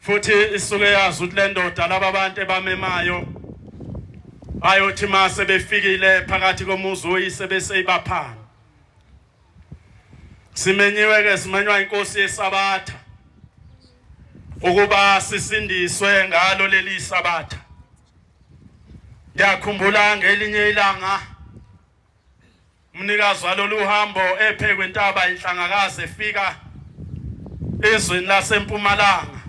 futhi isuke yazi ukuthi le ndoda laba abantu ebamemayo bayothi ma sebefikile phakathi komuzi oyise bese ibaphana simenyiwe ke simenywa inkosi yesabatha ukuba sisindiswe ngalo leli sabatha ngiyakhumbula ngelinye ilanga Umnikazi walolu hambo ephe kwentaba inhlangakazi efika ezweni lasempumalanga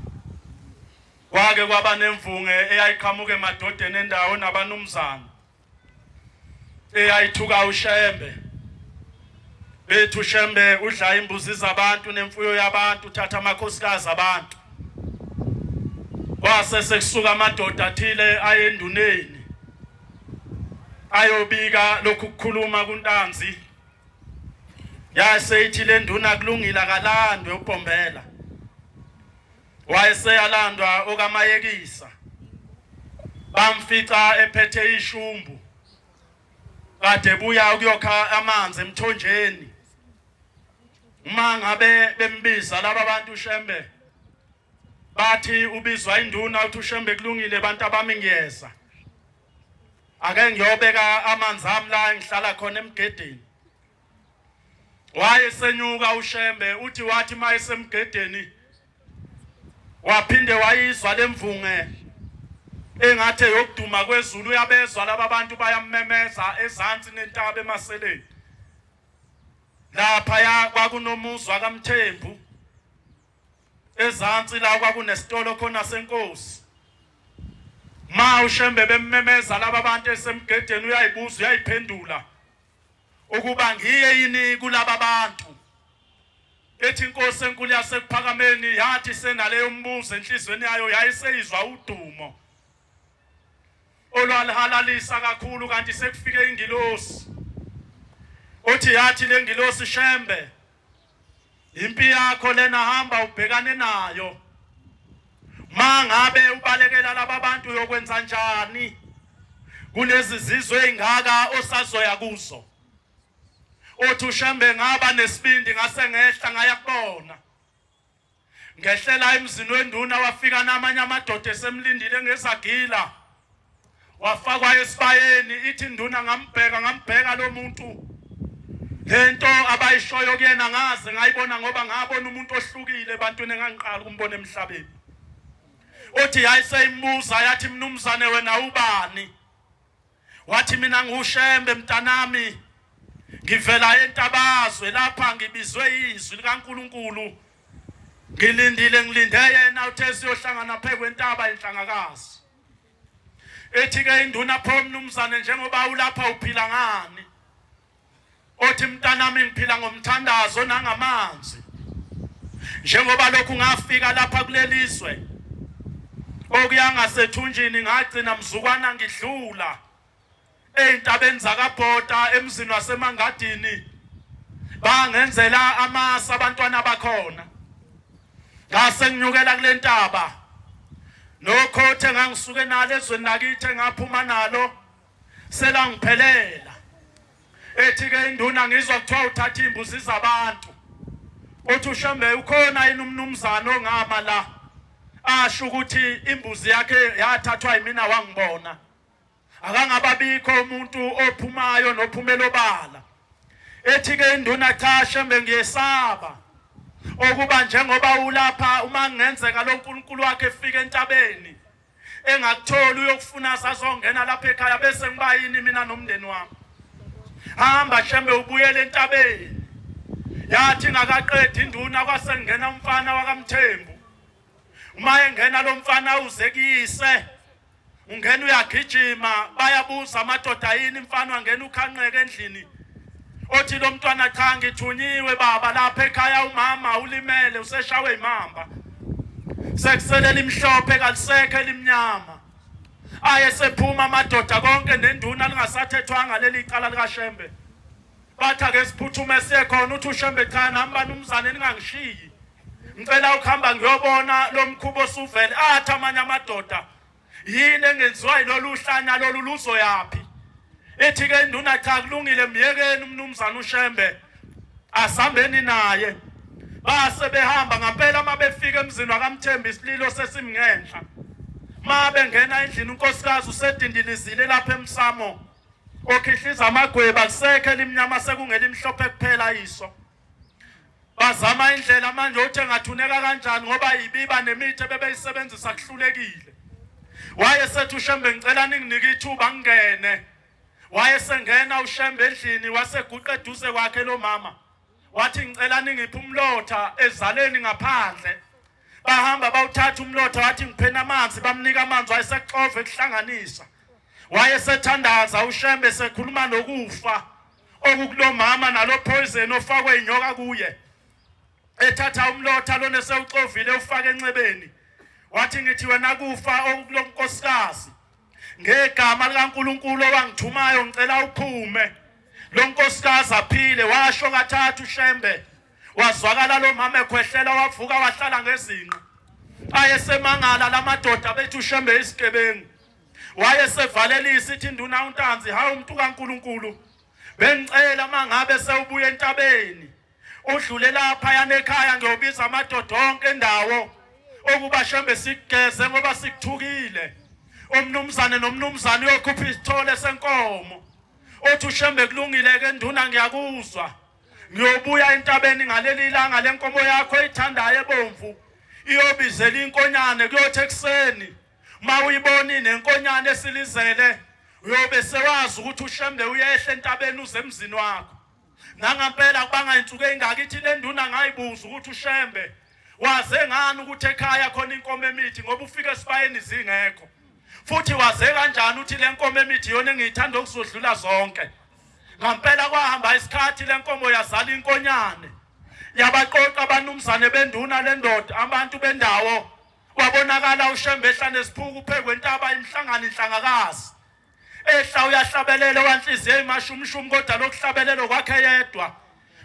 kwake kwaba nemvunge eyayiqhamuka emadodeni endawo nabanumzana eyayithuka ushembe bethu shembe udla imbuzi zabantu nemfuyo yabantu uthatha amakhosikazi abantu kwase sekusuka amadoda athile ayenduneni ayobika lokhu kukhuluma kuntanzi yase ithi le nduna kulungile akalandwe uBhombela wayeseyalandwa okamayekisa bamfica ephethe ishumbu kade buya ukuyokha amanzi emthonjeni uma ngabe bembiza laba bantu shembe bathi ubizwa induna uthi ushembe kulungile abantu abami ngiyeza ake ngiyobeka amanzi ami la ngihlala khona emgedeni waye senyuka ushembe uthi wathi maye semgedeni waphinde wayizwa lemvunge engathi yokuduma kwezulu uyabezwa laba bantu bayammemeza ezansi nentaba emaseleni lapha ya kwakunomuzwa kaMthembu Ezansi la kwakunesitolo khona senkosi. Ma ushembe bemmemeza laba bantu esemgedeni uyayibuza uyayiphendula ukuba ngiye yini kulaba bantu. Ethi inkosi enkulu yasekuphakameni yathi senaleyo mbuzo enhlizweni yayo yayiseyizwa udumo. Olwalihalalisa kakhulu kanti sekufike ingilosi. Othi yathi lengilosi shembe Impi yakho lena hamba ubhekane nayo. Mangabe ubalekela laba bantu uyokwenza njani? Kulezi zizwe ezingaka osazoya kuzo. Othi ushembe ngaba nesibindi ngase ngehla ngaya kubona. Ngehlela emzini wenduna wafika namanye amadoda esemlindile ngezagila. Wafakwa esibayeni ithi induna ngambheka ngambheka lo muntu. Lento abayishoyo kuyena ngaze ngayibona ngoba ngabona umuntu ohlukile ebantwini engangiqala ukumbona emhlabeni. Othi yayiseyimuza yathi mnumzane wena ubani? Wathi mina nguShembe mntanami ngivela entabazwe lapha ngibizwe izwi likaNkuluNkulu ngilindile ngilinde yena uthe siyohlangana phezu kwentaba enhlangakazi ethi ke induna pho mnumzane njengoba ulapha uphila ngani othi mntanami ngiphila ngomthandazo nangamanzi njengoba lokhu ngafika lapha kulelizwe okuyangasethunjini ngagcina mzukwana ngidlula ezintabeni zakabhoda emzini wasemangadini bangenzela amasa abantwana bakhona ngase nginyukela kule ntaba nokhothe ngangisuke nalo ezweni lakithi ngaphuma nalo selangiphelela ethi ke induna ngizwa kuthiwa uthatha imbuzi zabantu uthi ushembe ukhona yini umnumzane ongama la asho ukuthi imbuzi yakhe yathathwa yimina wangibona akangababikho umuntu ophumayo nophumela obala ethi ke induna cha shembe ngiyesaba okuba njengoba ulapha uma ngenzeka loNkulunkulu wakhe efika entabeni engakutholi uyokufuna asazongena lapha ekhaya bese ngibayini mina nomndeni wami hamba hlambe ubuyele entabeni yathi ngakaqedi induna kwasengena umfana wakamthembu uma engena lo mfana uze kuyise ungena uyagijima bayabuza amadoda yini mfana wangena ukhanqeke endlini othi lo mntwana cha ngithunyiwe baba lapha ekhaya umama ulimele useshawe imamba sekusele limhlophe kalisekho elimnyama aye sephuma amadoda konke nenduna lingasathethwanga leli cala likashembe bathi ake siphuthume siye khona uthi ushembe cha nami banumzane ningangishiyi ngicela ukuhamba ngiyobona lo mkhubo osuvele athi amanye amadoda Yini engenziwa yilolu hlanya lolu luzoyaphi? Ethi ke induna cha kulungile myekeni umnumzana uShembe asambeni naye. Base behamba ngampela mabefika emzini wakamthembi isililo sesimngenhla. Mabe ngena endlini unkosikazi usedindilizile lapha emsamo. Okhihliza amagweba kusekhe limnyama sekungelimhlophe kuphela iso. Bazama indlela manje othi engathuneka kanjani ngoba yibiba nemithi ebebeyisebenzisa kuhlulekile. Waye sethu Shembe ngicela ninginike ithuba ngingene. Waye sengena uShembe endlini waseguqa eduze kwakhe lo mama. Wathi ngicela ningiphe umlotha ezaleni ngaphandle. Bahamba bawuthatha umlotha wathi ngiphena amanzi bamnika amanzi wayesexova ekuhlanganisa. Wayesethanda uShembe sekhuluma nokufa. okukulomama nalo poison ofakwe inyoka kuye ethatha umlotha lona sewuxovile ufake enxebeni wathi ngithi wena kufa okukulonkosikazi ngegama likaNkuluNkulu owangithumayo ngicela uphume lo nkosikazi aphile washo kathathu shembe wazwakala lo mama ekhwehlela wavuka wahlala ngezinqa ayesemangala lamadoda bethu shembe isigebengu Wayesevalelisa ithi induna uNtanzi, hawu umuntu kaNkulunkulu, bengicela uma ngabe sewubuya entabeni udlule lapha yanekhaya ngiyobiza amadoda onke endawo ukuba shembe sigeze ngoba sikuthukile umnumzane nomnumzane uyokhupha isithole senkomo othi ushembe kulungile ke nduna ngiyakuzwa ngiyobuya entabeni ngaleli langa lenkomo yakho ithandayo ebomvu iyobizela inkonyane kuyothi ekuseni Uma uyiboni nenkonyane esilizele uyobe sewazi ukuthi ushembe uyehla entabeni uze emzini wakho. Nangampela kubanga insuku engaka ithi le nduna ngayibuza ukuthi ushembe waze ngani ukuthi ekhaya khona inkomo emithi ngoba ufike esibayeni zingekho. Futhi waze kanjani uthi le nkomo emithi yona engiyithanda ukuzodlula zonke. Ngampela kwahamba isikhathi le nkomo yazala inkonyane. Yabaqoqa abanumzane benduna lendoda abantu bendawo Wabonakala uShembe ehla nesiphuku uphekwe intaba imhlangano inhlangakazi. Ehla uyahlabelela wanhliziyo imashumshumi kodwa lokuhlabelela kwakhe yedwa.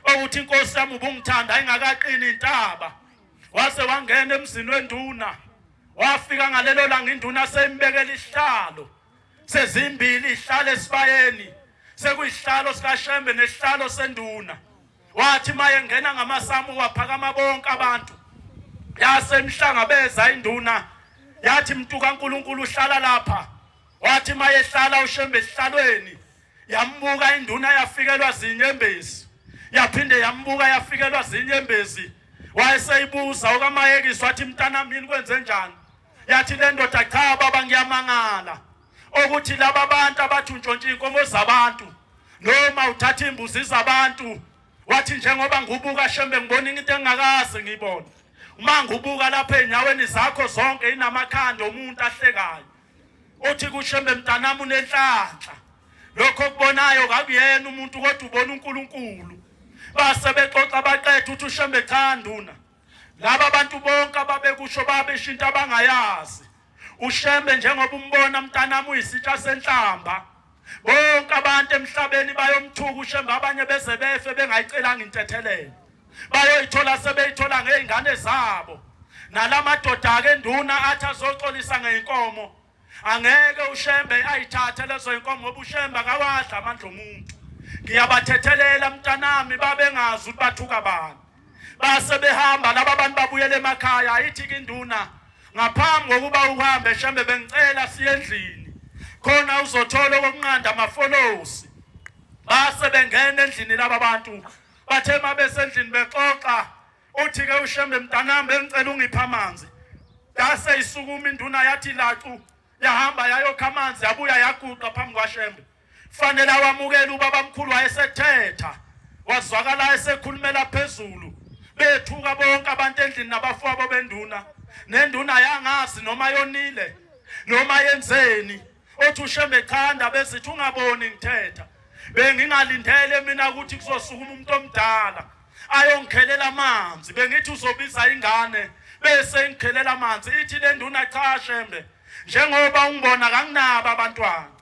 Okuthi inkosi yami ubungithanda ayingakaqini intaba. Wase wangena emzini wenduna. Wafika ngalelo langa induna seyimbekela isihlalo. Sezimbili ihlale esibayeni. Sekuyihlalo sikaShembe nesihlalo senduna. Wathi maye ngena ngamasamu waphakama bonke abantu. Yasemhlangabeza induna yathi mntu kaNkuluNkulu uhlala lapha. Wathi maye hlala ushembe esihlalweni. Yambuka induna yafikelwa zinyembezi. Yaphinde yambuka yafikelwa zinyembezi. Wayeseyibuza okamayekiswa athi mntana mini kwenze njani? Yathi le ndoda cha baba ngiyamangala. ukuthi laba bantu abathi untshontshe inkomo zabantu noma uthatha imbuzi zabantu wathi njengoba ngubuka shembe ngibona into engakaze ngiyibone uma ngubuka lapha enyaweni zakho zonke inamakhanda omuntu ahlekayo othi kushembe mntanami unenhlanhla lokho okubonayo kakuyena umuntu kodwa ubona uNkulunkulu base bexoxa baqethe uthi ushembe cha nduna laba bantu bonke ababekusho babeshinta abangayazi ushembe njengoba umbona mntanami uyisitsha senhlamba bonke abantu emhlabeni bayomthuka ushembe abanye beze befe bengayicelanga intethelelo bayoyithola sebeyithola ngey'ngane zabo nalamadoda-ke nduna athi azoxolisa ngey'nkomo Angeke uShembe ayithathe lezo inkomo ngoba uShembe akawadla amandla omuntu. Ngiyabathethelela mntanami babengazi ukuthi bathuka bani. Base behamba laba abantu babuyele emakhaya ayithi kinduna ngaphambi kokuba uhambe Shembe bengicela siyendlini. Khona uzothola okunqanda amafolosi. Base bengena endlini laba bantu bathe mabesendlini bexoxa Uthi ke uShembe mntanami bengicela ungipha amanzi. Yase isukuma induna yathi lacu yahamba yayokha amanzi yabuya yaguqa phambi kwaShembe. Fanele awamukele ubaba mkhulu wayesethetha. Wazwakala esekhulumela phezulu. Bethuka bonke abantu endlini nabafowabo benduna. Nenduna yangazi noma yonile noma yenzeni. Othi uShembe cha ndaba ezithi ungaboni ngithetha. Bengingalindele mina ukuthi kuzosukuma umuntu omdala. ayongikhelela amanzi bengithi uzobiza ingane bese ngikhelela amanzi ithi le nduna cha shembe njengoba ungibona kanginabo abantwana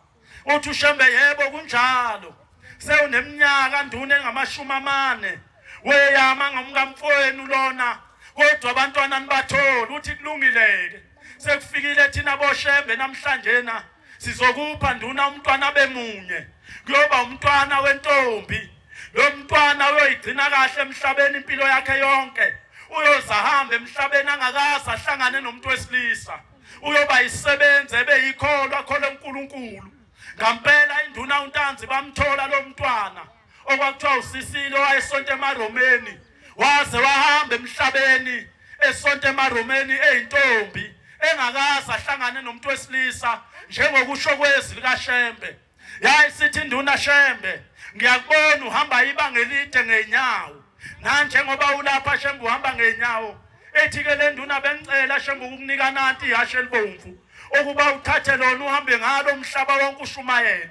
uthi ushembe yebo kunjalo sewuneminyaka nduna engamashumi amane weyama ngomkamfowenu lona kodwa abantwana nibatholi uthi kulungile-ke sekufikile thina boshembe namhlanje na sizokupha nduna umntwana bemunye kuyoba umntwana wentombi lo mntwana uyoyigcina kahle emhlabeni impilo yakhe yonke uyozahamba emhlabeni angakazi ahlangane nomuntu wesilisa uyoba yisebenzi ebe yikholwa khole uNkulunkulu ngampela induna uNtanzi bamthola lo mntwana okwakuthiwa usisile owayesonta emaromeni waze wahamba emhlabeni esonta emaromeni eyintombi engakaze ahlangane nomuntu wesilisa njengokusho kwezwi likaShembe yayi sithi induna Shembe ngiyakubona uhamba ibanga elide ngeenyawo nanjengoba ulapha Shembe uhamba ngeenyawo ethi ke le nduna bengicela Shembe ukukunika nanti ihashe elibomvu ukuba uthathe lona uhambe ngalo umhlaba wonke ushumayela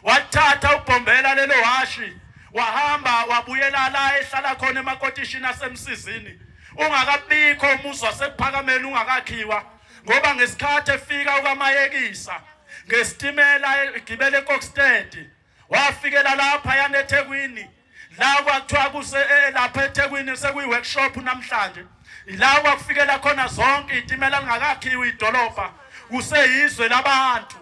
Wathatha uBhombela lelo hashi wahamba wabuyela la ehlala khona emakotishini asemsizini ungakabikho umuzi wasekuphakameni ungakakhiwa ngoba ngesikhathi efika ukamayekisa ngesitimela egibele eKokstad wafikela lapha yaneThekwini la kwakuthiwa kuse eh, eh, lapha eThekwini sekuyi workshop namhlanje ila kwakufikela khona zonke itimela lingakakhiwa idolobha kuseyizwe labantu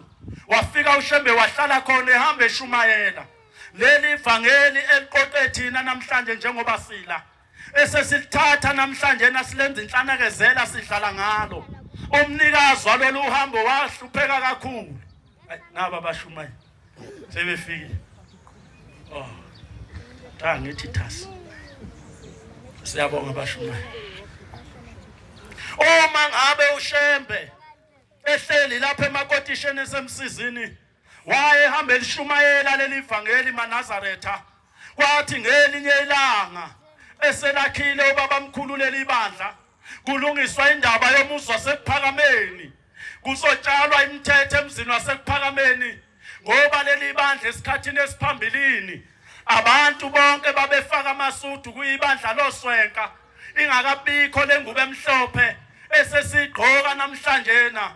wafika ushembe wahlala khona ehamba eshumayela leli vangeli eliqoqe thina namhlanje njengoba sila esesilithatha namhlanje nasilenza inhlanekezela sidlala ngalo umnikazi walolu uhambo wahlupheka kakhulu naba bashumayo sebefikile oh cha ngithi thasi siyabonga bashumayo uma ngabe ushembe ehleli lapha emakotisheni esemsizini Wayehamba elishumayela leli vangeli maNazaretha, kwathi ngelinye ilanga eselakhile ubabamkhulu leli bandla, kulungiswa indaba yomuzi wasekuphakameni, kuzotshalwa imithetho emzini wasekuphakameni ngoba leli bandla esikhathini esiphambilini abantu bonke babefaka amasudu kuyibandla loswenka ingakabikho lengubo emhlophe esesigqoka namhlanje na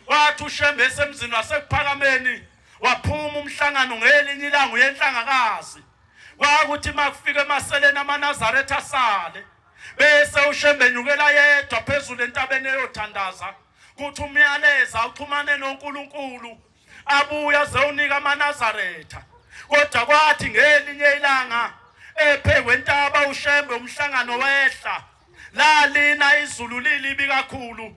Wathi uShembe esemzini wasekuphakameni waphuma umhlangano ngelinye ilanga uyenhlangakazi. Kwakuthi makufika emaseleni amaNazaretha asale bese uShembe nyukela yedwa phezulu entabeni eyothandaza kuthi umyaleza uxhumane noNkulunkulu abuya zewunika amaNazaretha kodwa kwathi ngelinye ilanga ephekwe intaba uShembe umhlangano wehla lalina izulu lilibi kakhulu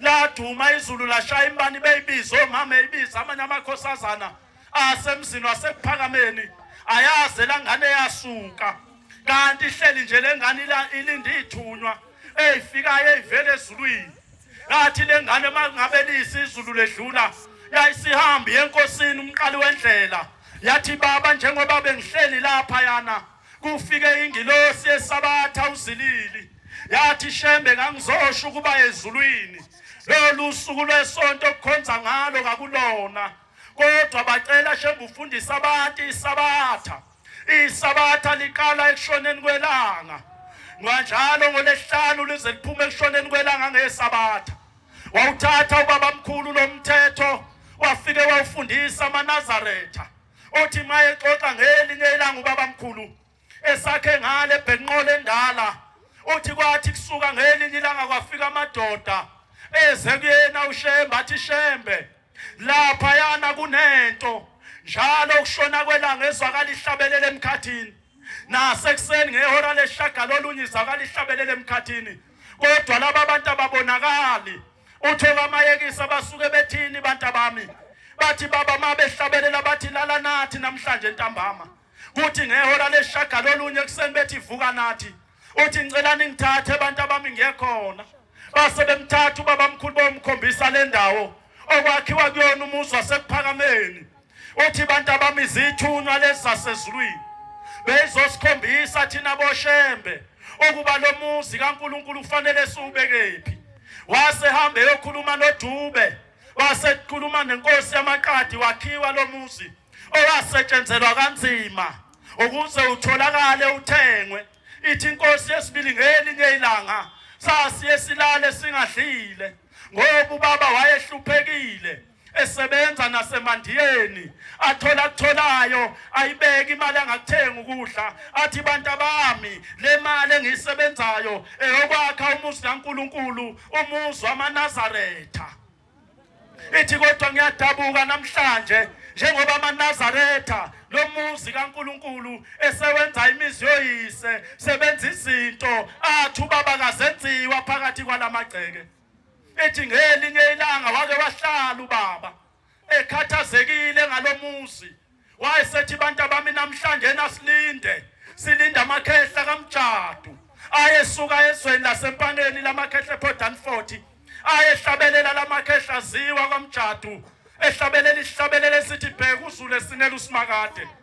laduma izulu lashaya imbani beyibiza omama eyibiza amanye amakhosazana asemzini wasekuphakameni ayaze langane yasuka kanti ihleli nje lengane ilinde ithunywa eyifikayo eyivele ezulwini ngathi lengane mangabe liyisizulu ledlula yayisihambi yenkosini umqali wendlela yathi baba njengoba bengihleli lapha yana Kufike ingilosi esabatha uzilili yathi shembe ngangizosho ukuba ezulwini lolu suku lwesonto okukhonza ngalo kakulona kodwa bacela shembe ufundisa abantu isabatha isabatha liqala ekushoneni kwelanga nganjalo ngolesihlanu lize liphume ekushoneni kwelanga ngesabatha wawuthatha ubabamkhulu lomthetho wafike wawufundisa amanazaretha othi mayexoxa ngelinye ilanga ubabamkhulu esakhe ngale ebhenqola endala uthi kwathi kusuka ngelinye ilanga kwafika amadoda eze kuyena ushembe athi shembe lapha yana kunento njalo ukushona kwelanga ezwakala ihlabelele emkhathini nasekuseni ngehora leshagalolunye izwakala ihlabelele emkhathini kodwa laba bantu ababonakali Uthola amayekisa basuke bethini bantabami. Bathi baba mabehlabelela bathi lala nathi namhlanje ntambama. Kuthi ngehora leshagalo olunye kuseni bethi vuka nathi. Uthi ngicela ningithathe abantu abami ngiyekhona. Base bemthatha ubaba mkhulu bomkhombisa lendawo okwakhiwa kuyona umuzi wasekuphakameni. Uthi abantu abami izithunywa lezi zasezulwini beyizosikhombisa thina boshembe ukuba lo muzi kaNkulunkulu kufanele siwubekephi. Wase hambe yokhuluma noDube, wase kukhuluma nenkosi yamaqadi wakhiwa lo muzi owasetshenzelwa kanzima ukuze utholakale uthengwe. Ithi inkosi yesibili ngelinye ilanga sasiye silale singadlile ngoba ubaba wayehluphekile esebenza nasemandiyeni athola akutholayo ayibeke imali angakuthenga ukudla athi bantu abami le mali engiyisebenzayo eyokwakha umuzi kaNkuluNkulu umuzi wamaNazaretha ithi kodwa ngiyadabuka namhlanje njengoba amaNazaretha lo muzi kaNkuluNkulu esewenza imizi yoyise sebenza izinto athi ubaba kazenziwa phakathi kwalamagceke ethi ngelinye ilanga wake wahlala ubaba ekhathazekile ngalomuzi wayesethi bantu abami namhlanje nasilinde silinde amakhehla kamjadu ayesuka ezweni lasempaneni lamakhehla ePortlandford ayehlabelela lamakhehla ziwa kwamjadu ehlabelela isihlabelela esithi bheka uzulu esinela usimakade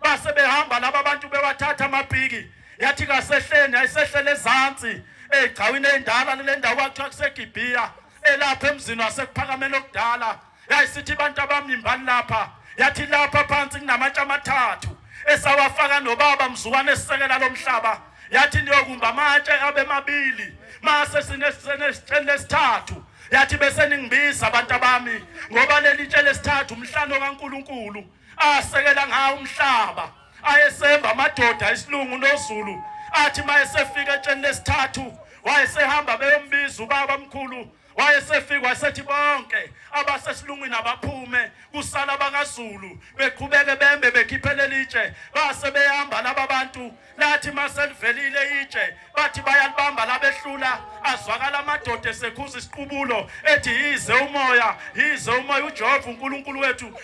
base behamba laba bantu bewathatha amapiki yathi kasehleni ayisehlele ezantsi egcawini endala le ndawo kwathiwa kuseGibhiya elapha emzini wasekuphakamela okudala yayisithi abantu abamimbani lapha yathi lapha phansi kunamatshe amathathu esawafaka nobaba mzukwane esisekela lomhlaba yathi niyokumba amatshe abe mabili mase sinesitsheni lesithathu yathi bese ningibiza abantu abami ngoba leli tshe lesithathu umhlano kaNkuluNkulu asekela ngawo umhlaba ayesemba amadoda isilungu nozulu athi mayesefika etsheni lesithathu wayesehamba beyombiza ubaba mkhulu wayesefika wasethi bonke abasesilungwini abaphume kusala abakazulu beqhubeke bembe bekhiphelele itshe base behamba laba bantu lathi maselivelile itshe bathi bayalibamba labehlula azwakala amadoda esekhuza isiqubulo ethi yize umoya yize umoya ujehova unkulunkulu wethu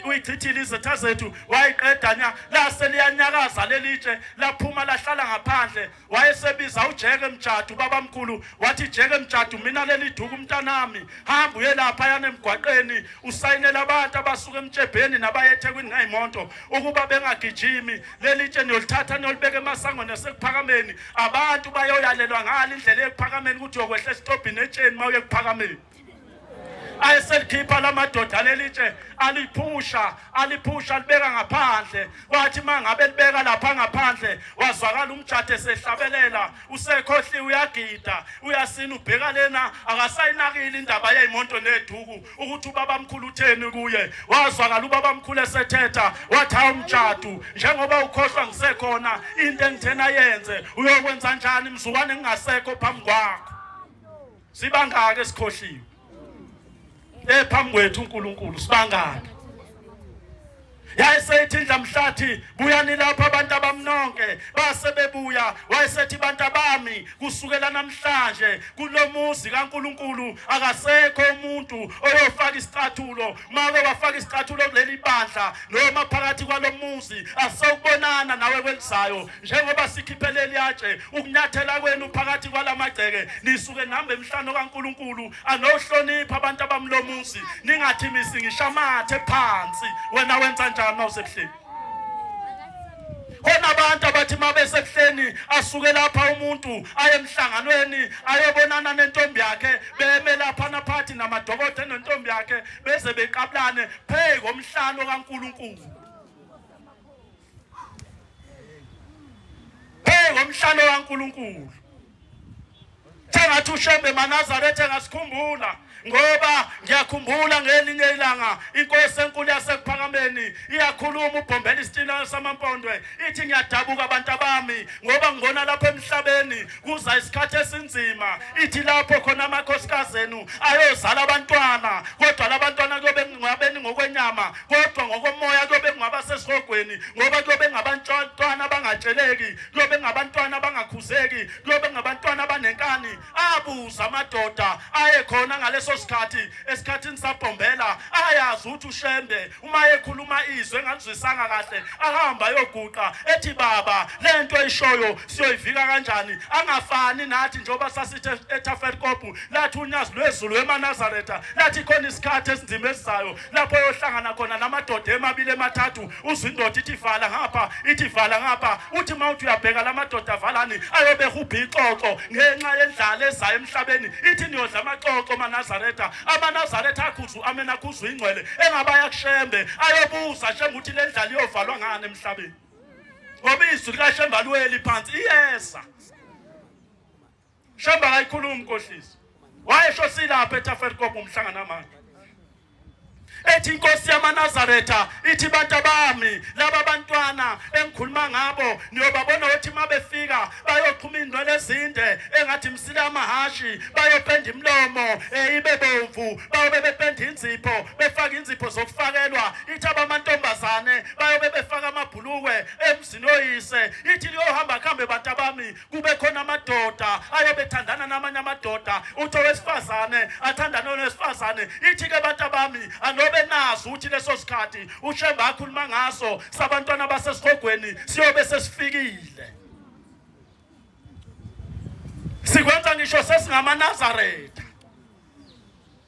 uyichithile izitha zethu wayiqeda nya lase liyanyakaza leli tshe laphuma lahlala ngaphandle wayesebiza ujeke mjadu babamkhulu wathi jeke mjadu mina leli duku umntanami hamba uye lapha yana emgwaqeni usayinela abantu abasuke emtshebheni nabayethekwini ngayimonto ukuba bengagijimi leli tshe niyolithatha niyolibeka emasangweni asekuphakameni abantu bayoyalelwa ngalo indlela ekuphakameni ukuthi uyokwehla esitobhini etsheni uma uye kuphakameni ayeselikhipha la madoda leli tshe aliphusha aliphusha libeka ngaphandle wathi uma ngabe libeka lapha ngaphandle wazwakala umjade esehlabelela usekhohliwe uyagida uyasina ubheka lena akasayinakile indaba yeyimonto neduku ukuthi ubabamkhulu utheni kuye wazwakala ubabamkhulu esethetha wathi hawu mtshadu njengoba ukhohlwa ngisekhona into engithena yenze uyokwenza njani mzukwane ngingasekho phambi kwakho sibangaki esikhohliwe ephambi kwethu uNkulunkulu sibangaki yayesethi ndlamhlathi buyani lapha abantu abamnonke base bebuya wayesethi bantu abami kusukela namhlanje kulomuzi kaNkuluNkulu akasekho umuntu oyofaka isicathulo make wafaka isicathulo kuleli bandla noma phakathi kwalomuzi asokubonana nawe kwelizayo njengoba sikhiphe leliyatshe ukunyathela kwenu phakathi kwalamagceke nisuke nihamba emhlane kaNkuluNkulu anohlonipha abantu abamlomuzi ningathi misi ngishamathe phansi wena wenza njani mawusebuhleni khona abantu abathi mabesebuhleni asuke lapha umuntu aye emhlanganweni ayobonana nentombi yakhe beme lapha naphathi namadokodo nentombi yakhe beze beqabulane pheyi komhlalo kaNkuluNkulu Hey ngomhlalo kaNkuluNkulu. Sengathi uShembe maNazaretha engasikhumbula ngoba ngiyakhumbula ngelinye ilanga inkosi enkulu yasekuphakameni iyakhuluma ubhombela isitina samampondwe ithi ngiyadabuka abantu abami ngoba ngibona lapha emhlabeni kuza isikhathi esinzima ithi lapho khona amakhosikazi enu ayozala abantwana kodwa labantwana kuyobe ngabeni ngokwenyama kodwa ngokomoya kuyobe kungaba sesihogweni ngoba kuyobe ngabantwana abangatsheleki kuyobe ngabantwana abangakhuzeki kuyobe ngabantwana abanenkani abuza amadoda ayekhona ngaleso sikhathi esikhathini sabhombela ayazi ukuthi ushembe uma ekhuluma izwe engalizwisanga kahle ahamba ayoguqa ethi baba le nto eyishoyo siyoyivika kanjani angafani nathi njengoba sasithe ethaferkopu lathi unyazi lwezulu emanazaretha lathi khona isikhathi esinzima esizayo lapho yohlangana khona namadoda emabili emathathu uzwa indoda ithi vala ngapha ithi vala ngapha uthi uma uthi uyabheka la madoda avalani ayobe hubha ixoxo ngenxa yendlala ezayo emhlabeni ithi niyodla amaxoxo amanazaretha amanazaretha akhuzu amena akhuzu ingcwele engabaya kushembe ayobuza shembe ukuthi le ndlala iyovalwa ngani emhlabeni ngoba izwi likashembe alweli phansi iyeza Shamba akayikhulumi nkohlisi. Wayesho silapha eTaferkop umhlangano amanje. ethi inkosi yamanazaretha ithi bantu bami laba bantwana engikhuluma ngabo niyobabona ukuthi uma befika bayoqhuma iy'ndwele ezinde engathi msile amahashi bayopenda imilomo um ibe bomvu bayobe bependa inzipho befake inzipho zokufakelwa ithi abamantombazane bayobe befaka amabhulukwe emzini oyise ithi liyohamba kuhambe bantu abami kube khona amadoda ayebethandana namanye amadoda uthi owesifazane athandane owesifazane ithi-ke abantu abami anobe nazi ukuthi leso sikhathi ushemba akhuluma ngaso sabantwana basesihogweni siyobe sesifikile sikwenza ngisho sesingamaNazaretha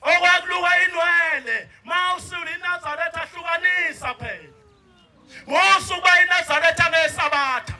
okwakuluka inwele mawusula inazaretha ahlukanisa phela ngosuku bayinazaretha ngesabatha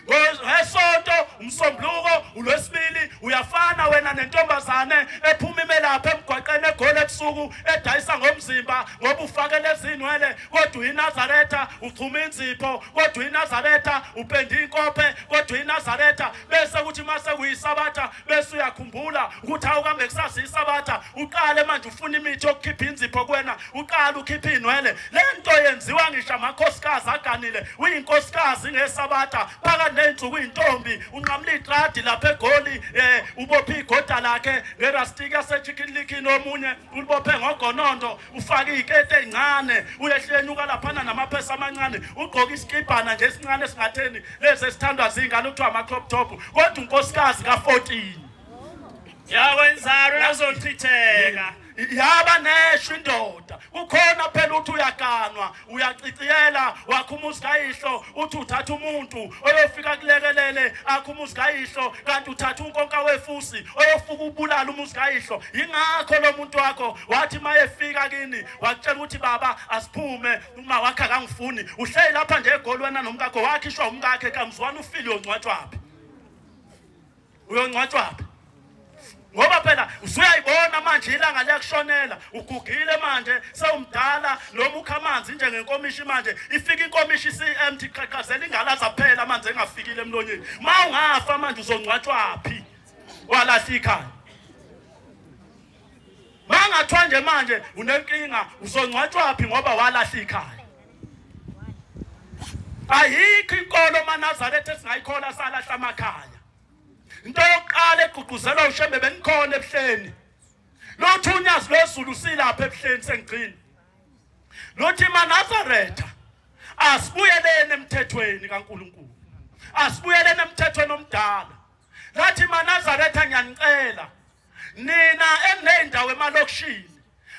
ngesonto umsombuluko ulwesibili uyafana wena nentombazane ephuma imelapha emgwaqeni egole ebusuku edayisa ngomzimba ngoba ufakele ezinwele kodwa uyinazaretha uchuma inzipho kodwa uyinazaretha upenda inkophe kodwa uyinazaretha bese kuthi uma sekuyisabatha bese uyakhumbula ukuthi awukambe kusasa isabatha uqale manje ufuna imithi yokukhipha inzipho kwena uqale ukhipha iy'nwele le nto yenziwa ngisho amakhosikazi aganile uyinkosikazi ngesabatha phakathi ney'nsuku iy'ntombi unqamula itradi lapha egoli um ubophe igoda lakhe ngerastiki yasechikinlikini omunye ulibophe ngogonondo ufake iy'kete ey'ncane uyehlenyuka laphana namaphesa amancane ugqoke isikibhana nje esincane esingatheni lezi esithandwa zingane kuthiwa ama-crop top kodwa unkosikazi ka-14 yakwenzalo yazochitheka yaba neshwa indoda kukhona phela ukuthi uyaganwa uyaciciyela wakho umuzi kayihlo uthi uthatha umuntu oyofika kulekelele akho umuzi kayihlo kanti uthatha unkonka wefusi oyofuka ubulala umuzi kayihlo yingakho lo muntu wakho wathi mayefika kini wakutshela ukuthi baba asiphume uma wakhe akangifuni uhleli lapha nje egolwana nomkakho wakhishwa umkakhe kamzwana ufile yongcwatshwaphi uyongcwatshwaphi ngoba phela usuyayibona manje ilanga liyakushonela ugugile manje sewumdala noma ukha amanzi njengenkomishi manje ifika inkomishi isi-empty qhaqhazela ingala zaphela amanzi engafikile emlonyeni ma ungafa manje uzongcwatshwaphi walahla ikhaya Mangathiwa nje manje unenkinga uzongcwatshwa phi ngoba walahla ikhaya. Ayikho inkolo maNazaretha esingayikhola salahla amakhaya. Into yokuqala egqugquzelwa uShembe benikhona ebuhleni. Lothi unyazi lwezulu silapha ebuhleni sengigcina. Lothi maNazaretha asibuyeleni emthethweni kaNkuluNkulu. Asibuyeleni emthethweni omdala. Lathi maNazaretha ngiyanicela nina eney'ndawo emalokishini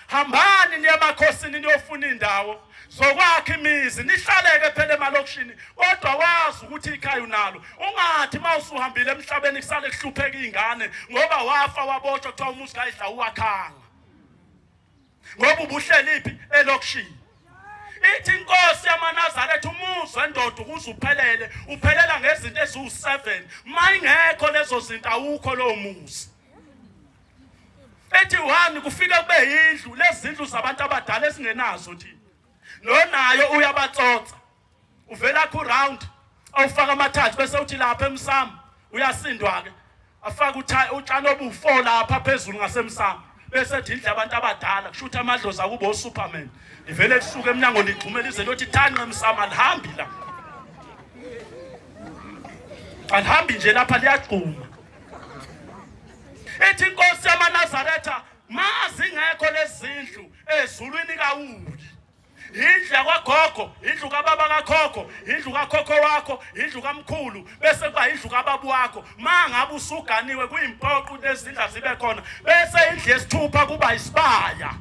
hambani niye emakhosini niyofuna iy'ndawo zokwakha imizi nihlaleke phela emalokishini kodwa wazi ukuthi ikhaya unalo ungathi uma usuhambile emhlabeni kusale kuhlupheka iy'ngane ngoba wafa wabotshwa kuthiwa umuzi kayidla uwakhanga ngoba ubuhleliphi elokishini ithi inkosi yamanazaretha umuzwe ndoda ukuze uphelele uphelela ngezinto eziwu-seven mayingekho lezo zinto awukho lowo muzi ethi one kufike kube yindlu lezi zindlu zabantu abadala esingenazo thina nonayo uyabatsotsa uvela ku round awufaka amathathu bese uthi lapha emsamo uyasindwa ke afaka uthayi utshani obufo lapha phezulu ngasemsamo bese ethi indle abantu abadala kusho ukuthi amadlozi akubo superman ivele lisuke emnyango ligxumela ize lothi thanqe emsamo alihambi la alihambi nje lapha liyagxuma ethi inkosi yamanazaretha mazingekho lezindlu ezulwini kawuli indlu yakwagogo indlu kababa kakhokho indlu kakhokho wakho indlu kamkhulu bese kuba indlu kababu wakho ma ngabe usuganiwe kuyimpoqo ukuthi ezindla zibe khona bese indlu yesithupha kuba isibaya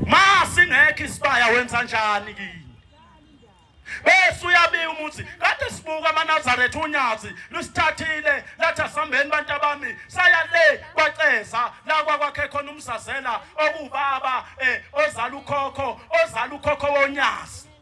ma singekho isibaya wenza njani kini bese uyabika umuthi kade sibuka amanazaretha unyazi lusithathile lathi asihambeni bantu abami saya le kwaceza la kwakwakhe khona umzazela okubaba um eh, ozala ukhokho ozala ukhokho wonyazi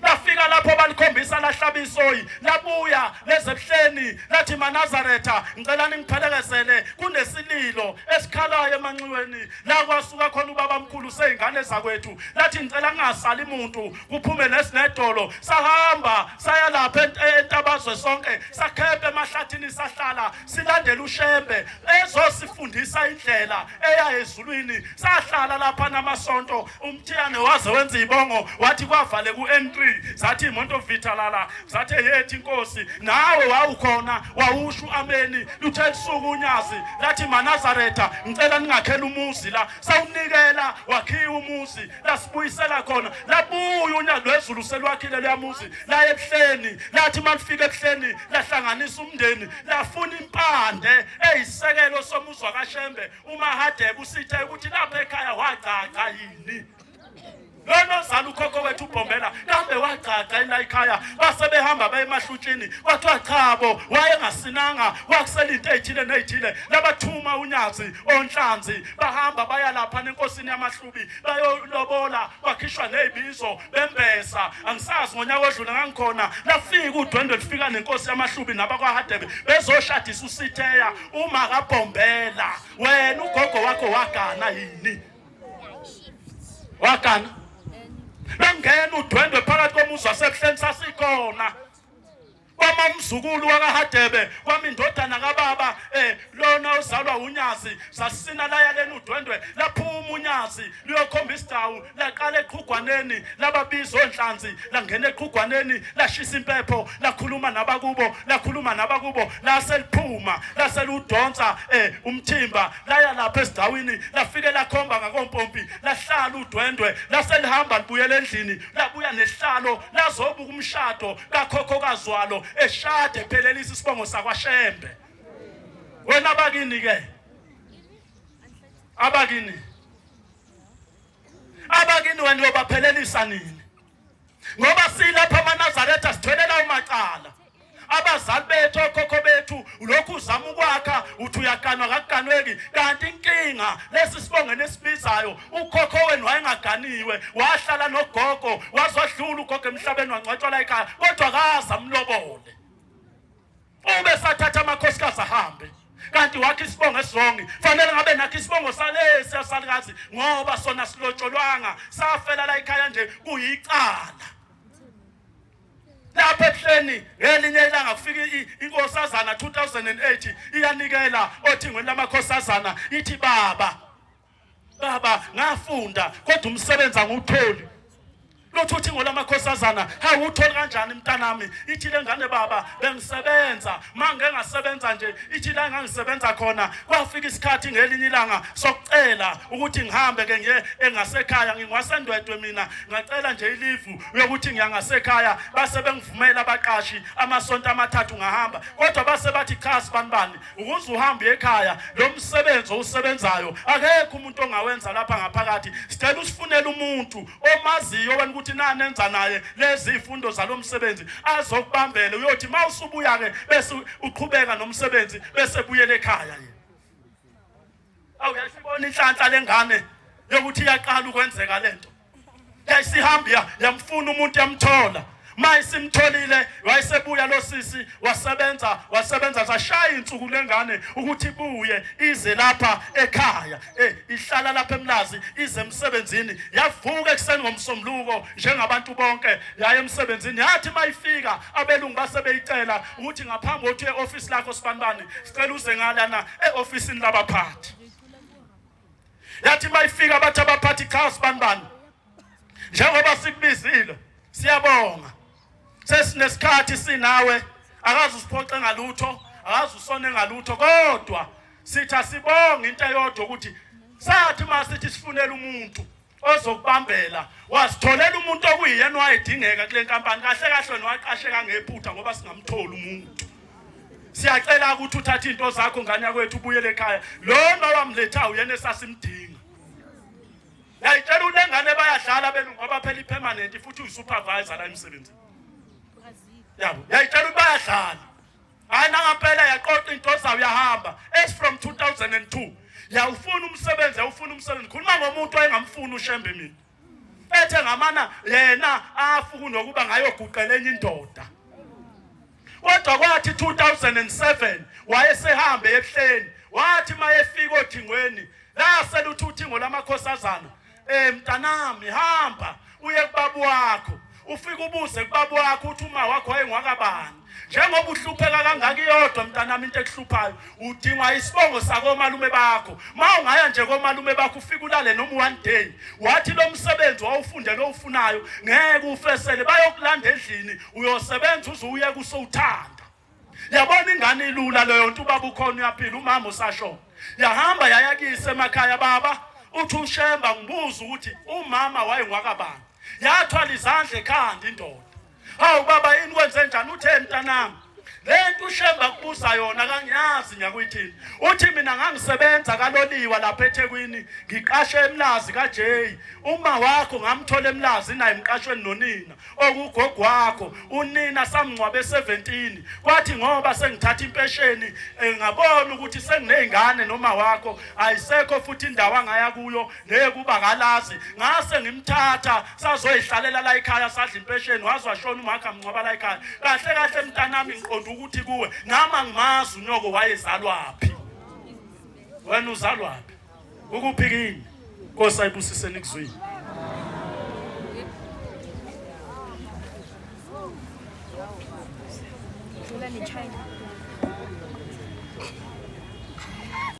lafika lapho balikhombisa lahlaba isoyi labuya lezebuhleni lathi manazaretha ngicela ningiphelekezele kunesililo esikhalayo emanxiweni la kwasuka khona ubaba mkhulu seyingane zakwethu lathi ngicela ngingasali muntu kuphume nesinedolo sahamba saya lapha entabazwe sonke sakhephe emahlathini sahlala silandela ushembe ezosifundisa indlela eya ezulwini sahlala lapha namasonto umthiyane waze wenza ibongo wathi kwavale ku-n3 zathi imonto vitalala zathi yethi inkosi nawe wawukhona wawusho ameni luthe lusuku unyazi lathi manazaretha ngicela ningakhela umuzi la sawunikela wakhiwa umuzi lasibuyisela khona labuya unyaka wezulu selwakhile luyamuzi laye ebuhleni lathi uma lifika ebuhleni lahlanganisa umndeni lafuna impande eyisekelo somuzwa kashembe umahadebe usithe ukuthi lapha ekhaya wagcagca yini lona ozala ukhokho wethu ubhombela kambe wagcagca enayikhaya base behamba baye emahlutshini kwathiwa chabo wayengasinanga wakusela into eyithile neyithile labathuma unyazi onhlanzi bahamba baya lapha nenkosini yamahlubi bayolobola bakhishwa nezibizo bembesa angisazi ngonyaka odlule ngangikhona lafika udwendwe lifika nenkosi yamahlubi nabakwahadebe bezoshadisa usitheya uma kabhombela wena ugogo wakho wagana yini wagana bengena udwendwe phakathi komuzi wasebuhleni sasikhona kwamamzukulu wakahadebe kwami indodana kababa eh lona ozalwa unyazi sasina laya leni udwendwe laphuma unyazi liyokhomba isidawu laqala eqhugwaneni lababiza onhlanzi langena eqhugwaneni lashisa impepho lakhuluma nabakubo lakhuluma nabakubo lase liphuma lase ludonsa eh umthimba laya lapha esigcawini lafike lakhomba ngakompompi lahlala udwendwe laselihamba libuyela endlini labuya nehlalo lazobuka umshado kakhokhokazi walo eshade ephelelisa isibongo sakwashembe wena bakini ke abakini abakini wena uyobaphelelisa nini ngoba silapha amanazaretha sitholela umacala abazali bethu okhokho bethu lokhu uzama ukwakha uthi uyaganwa kakuganweki kanti inkinga lesi sibonge nesibizayo ukhokho wenu wayengaganiwe wahlala nogogo wazodlula ugogo emhlabeni wangcwatshwa la ekhaya kodwa kaza mlobole ube sathatha amakhosikazi ahambe kanti wakhe isibongo esizongi fanele ngabe nakhe isibongo salesi asalikazi ngoba sona silotsholwanga safela la ikhaya nje kuyicala lapha ebuhleni ngelinye ilanga kufika inkosazana 2008 iyanikela othingweni lamakhosazana ithi baba baba ngafunda kodwa umsebenzi angiwutholi lothi uthi ngolamakhosazana hayi uthole kanjani mntanami ithi le ngane baba bengisebenza ma ngengasebenza nje ithi la engangisebenza khona kwafika isikhathi ngelinye ilanga sokucela ukuthi ngihambe ke ngiye engasekhaya ngingwasendwedwe mina ngacela nje ilivu yokuthi ngiyangasekhaya base bengivumela abaqashi amasonto amathathu ngahamba kodwa base bathi cha sibanibani ukuze uhambe ekhaya lo msebenzi owusebenzayo akekho umuntu ongawenza lapha ngaphakathi sicela usifunele umuntu omaziyo wena ukuthi nani enza naye lezi ifundo zalo msebenzi azokubambele uyothi uma usubuya-ke bese uqhubeka nomsebenzi bese buyele ekhaya yena awuyashibona inhlanhla lengane yokuthi iyaqala ukwenzeka lento yayisihamba ya yamfuna umuntu yamthola maye simtholile wayesebuya lo sisi wasebenza wasebenza sashaya insuku lengane ukuthi buye ize lapha ekhaya eh ihlala lapha emlazi ize emsebenzini yavuka ekuseni ngomsombuluko njengabantu bonke yaye emsebenzini yathi mayifika abelungu basebeyicela ukuthi ngaphambi kokuthi e-ofisi lakho sibanibani sicela uze ngalana e-ofisini labaphathi yathi uma ifika bathi abaphathi cha sibanibani njengoba sikubizile siyabonga sesinesikhathi sinawe akazi usiphoxe ngalutho akazi usone ngalutho kodwa sithi asibonge into eyodwa ukuthi sathi uma sithi sifunela umuntu ozokubambela wazitholela umuntu okuyiyena wayedingeka kule nkampani kahle kahle niwaqasheka ngephutha ngoba singamtholi umuntu siyacela ukuthi uthathe into zakho ngane yakwethu ubuyele ekhaya lona wamlethayo uyena esasimdinga yayitshela ukuthi engane bayadlala benu ngoba phela ipermanent futhi uyisupervisor la emsebenzini yabo yayitshela ukuthi bayadlala hayi nangempela yaqoqa into zayo yahamba as from 2002 yawufuna umsebenzi yawufuna umsebenzi khuluma ngomuntu oyengamfuni ushembe mina ethe ngamana yena afuku nokuba ngayoguqela enye indoda kodwa kwathi 2007 wayesehambe ebuhleni wathi mayefika othingweni laselutha uthingo lamakhosazana Eh mntanami hamba uye kubabu wakho ufike ubuze kubabu wakho uthi uma wakho wayengwakabani njengoba uhlupheka kangaka iyodwa mntanami into ekuhluphayo udingwa isibongo sakomalume bakho ma ungaya nje komalume bakho ufike ulale noma one day wathi lo msebenzi wawufundele owufunayo ngeke ufesele bayokulanda endlini uyosebenza uze uye kusowuthanda yabona ingane ilula leyo nto ubaba ukhona uyaphila umama usashona yahamba yaya kise emakhaya baba uthi ushemba ngibuza ukuthi umama wayengwakabani yathwala izandla ekhanda indoda hawu baba yini kwenze njani uthe mntanami lento ushemba kubuza yona kangiyazi ngiyakuyithini uthi mina ngangisebenza kaloliwa lapha eThekwini ngiqashe emlazi kaJay uma wakho ngamthola emlazi naye emqashweni nonina okugogo wakho unina samngcwabe 17 kwathi ngoba sengithatha impesheni eh, ngabona ukuthi senginezingane noma wakho ayisekho futhi indawo angaya kuyo nekuba kalazi ngase ngimthatha sazoyihlalela la ekhaya sadla impesheni wazwa shona umakha mngcwaba la ekhaya kahle kahle mntanami ngiqonda ukuthi kuwe nama ngimazi unyoko wayezalwaphi wena uzalwaphi Ukuphi kini? Nkosi ayibusise nikuzwile. China.